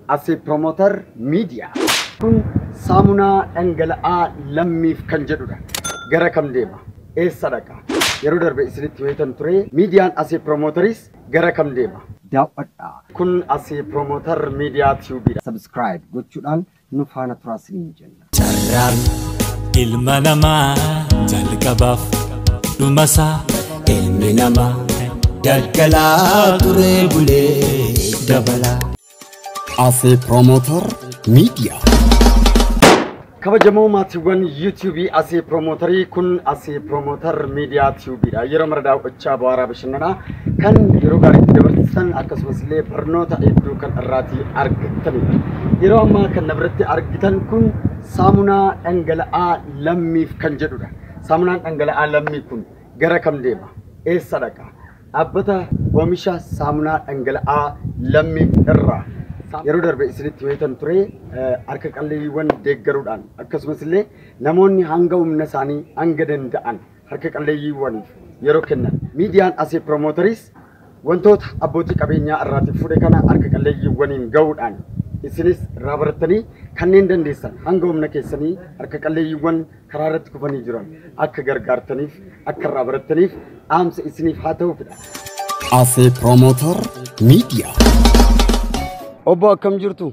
As a promoter media. Kun saamunaa dhangala'aa lammiif kan jedhudha. Gara kam deema? Eessa dhaqa? Yeroo darbe isinitti weetan ture. Miidiyaan as a promoteris gara kam deema? Daawwadhaa. Kun as a promoter media tube dha. Subscribe gochuudhaan nu faana turaa siniin jenna. Carraan ilma namaa jalqabaaf dhumasaa ilmi namaa daggalaa turee bulee dabalaa. Afee Promoter Media. Kabajamoo maatiiwwan YouTube Asee Piroomotarii kun Asee Piroomotar Miidiyaa Tube dha. Yeroo mara daaw'achaa bu'aaraa bashannanaa kan yeroo gaarii itti dabarsisan akkasumas illee barnoota hedduu kan irraatii argattanidha. Yeroo ammaa kan na biratti argitan kun saamunaa dhangala'aa lammiif kan jedhudha. Saamunaan dhangala'aa lammii kun gara kam deema? Eessa dhaqa? Dhaabbata oomisha saamunaa dhangala'aa lammii irraa yeroo darbe isinitti wayitan ture eh, harka qalleeyyiiwwan deeggaruudhaan akkasumas illee namoonni hanga humna isaanii hanga danda'an harka qalleeyyiiwwaniif yeroo kennan. Miidiyaan Asee Promoteris wantoota abbootii qabeenyaa irraati fuudhe kana harka qalleeyyiiwwaniin ga'uudhaan isinis irraa barattanii kanneen dandeessan hanga humna keessanii harka qalleeyyiiwwan karaa irratti kufanii jiran akka gargaartaniif akka irraa barattaniif dhaamsa isiniif haa ta'uufidha. Asee Promoter Media. Obbo akkam jirtu?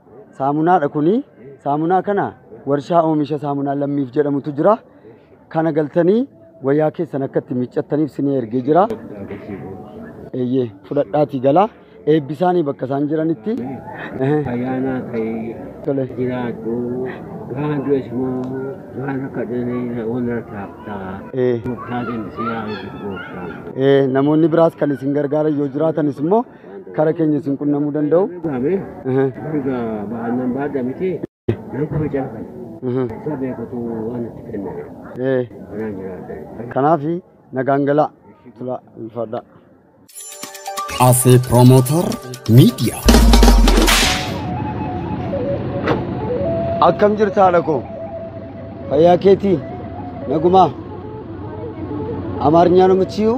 Saamunaadha kuni. Saamunaa kana warshaa oomisha saamunaa lammiif jedhamutu jira. Kana galtanii wayyaa keessan akka itti miiccattaniif sinii ergee jira. Eeyyee fudhadhaatii galaa. Eebbisaanii bakka isaan jiranitti. Ayyaanaa ta'ee Tole. jiraadhu. Waan du'es immoo waan akka dhanee waan irratti haftaa. Ee. Gooftaa deemsee yaa eebbisu gooftaa. Eh, namoonni biraas kan isin gargaaran yoo jiraatanis immoo kara keenya isin qunnamuu danda'u. Gaame Aha, mirga baannaan baadha miti nan kabaja kan aha, isa beekutu waan itti kenname ee. kanaan jiraadha. Kanaaf nagaan galaa tulaa ulfaadhaa. Cafe Promoter Media. Akkam jirta haadha koo? Fayyaa keetii? Nagumaa? Amaarnyaa namichiyuu?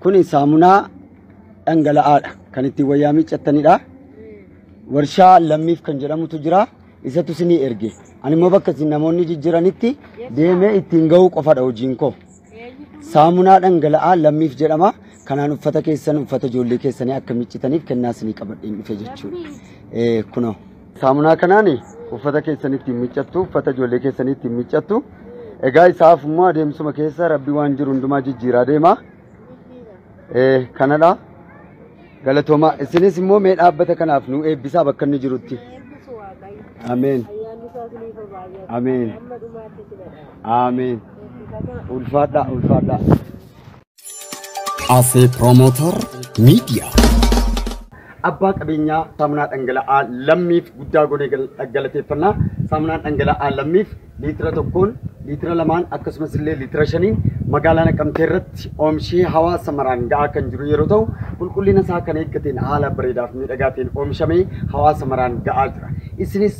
Kun saamunaa dhangala'aadha. Kan ittiin wayyaa miiccattanidha. Warshaa lammiif kan jedhamutu jira. Isatu isinii erge. Ani immoo bakka isin namoonni jijjiranitti deemee ittiin ga'uu qofadha hojiin koo. Saamunaa dhangala'aa lammiif jedhama. Kanaan uffata keessan uffata ijoollee keessanii akka miiccitaniif kennaa isinii qabadheen dhufe jechuudha. Kunoo. Saamunaa kanaan uffata keessan ittiin miiccattu, uffata ijoollee keessanii ittiin miiccattu. Egaa isaaf immoo adeemsuma keessa rabbi waan jiru hundumaa jijjiiraa deema. Eh, Kanadha. Galatooma. Isinis immoo mee dhaabbata kanaaf nu eebbisaa bakka inni jirutti. Eebbisu Waaqayyo. Ameen. Ayyaanni isaa isiniif haa baay'atu. Ameen. Amma dhumaatti isin haa dhaabatu. Ameen. Eebbifamaa. Ulfaadhaa, ulfaadhaa. Afee Promoter Media. Abbaa qabeenyaa saamunaa dhangala'aa lammiif guddaa goonee galateeffannaa. Saamunaan dhangala'aa lammiif liitira tokkoon, liitira lamaan akkasumas illee liitira shaniin magaalaa Naqamtee irratti oomishee hawaasa maraan ga'aa kan jiru yeroo ta'u qulqullina isaa kan eeggateen haala bareedaa fi miidhagaa ta'een oomishamee hawaasa maraan ga'aa jira. Isinis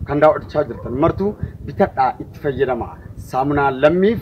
kan daawwachaa jirtan martuu bitadhaa itti fayyadamaa. Saamunaa lammiif